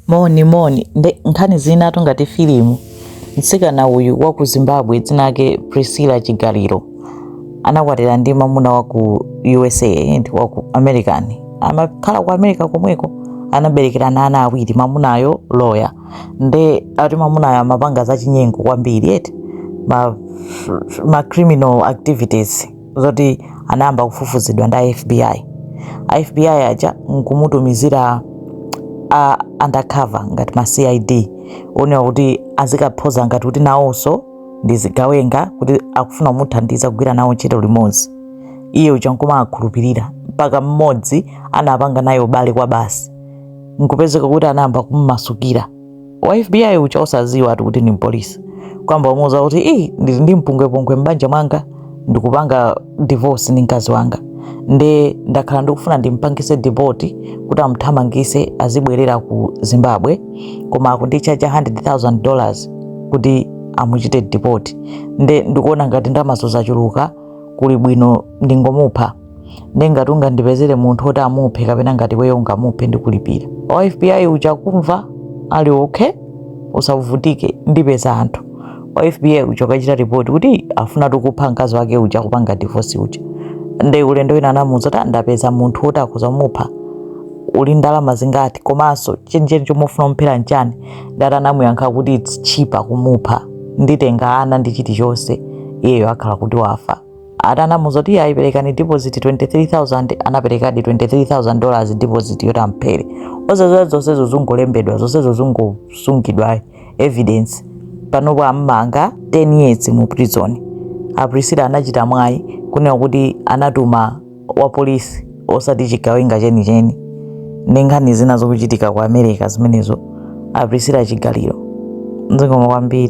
moni moni nde nkhani zinatu ngati filimu mtsikana uyu wa ku zimbabwe dzina lake priscilla chigaliro anakwatira ndi mamuna wa ku usa ndi wa ku american amakhala ku america komweko anaberekerana ana awiri mamunayo loya nde ati mamunayo amapanga zachinyengo kwambiri eti ma, ma criminal activities zoti anayamba kufufuzidwa ndi a FBI. A FBI aja nkumutumizira a undercover ngati ma CID onewa kuti azikaphoza ngati kuti nawonso ndi zigawenga kuti akufuna kumuthandiza kugwira nawo ntchito limodzi. Iye uja nkumakhulupirira mpaka mmodzi anapanga naye ubale kwa basi nkupezeka kuti anayamba kummasukira. wa FBI uja osaziwa ati kuti ndi mpolisi kwamba umuuza kuti ii ndili ndi mpungwepungwe m'banja mwanga ndikupanga divorce ndi mkazi wanga nde ndakhala ndikufuna ndimpangise deport kuti amthamangise azibwerera ku zimbabwe koma akundichaja 100000 dollars kuti amuchite deport nde ndikuona ngati ndamazo zachuluka kuli bwino ndingomupha nde ngati ungandipezere munthu oti amuphe kapena ngati weyo ungamuphe ndikulipira wa fbi uja kumva ali okay usavutike ndipeza anthu wa fbi uja kukachita ripoti kuti afuna tikupha mkazi wake akupanga divorce uja nde ulendo wina anamuuza kuti ndapeza munthu oti akhoza kumupha uli ndalama zingati komanso chenicheni chomufuna kumphera nchani ndati anamuyankha kuti its cheaper kumupha nditenga ana ndi chilichonse iyeyo akhala kuti wafa ati anamuuza kuti ayi perekani deposit 23000 anaperekadi 23000 dollars deposit yoti amphere osaziwa zonsezo zungolembedwa zonsezo zungosungidwa evidence panopo ammanga 10 years mu prison a Priscilla anachita mwayi kunena kuti anatuma wapolisi osati chigawenga chenicheni ndi nkhani zina zokuchitika ku america zimenezo a Priscilla chigaliro nzingoma kwambiri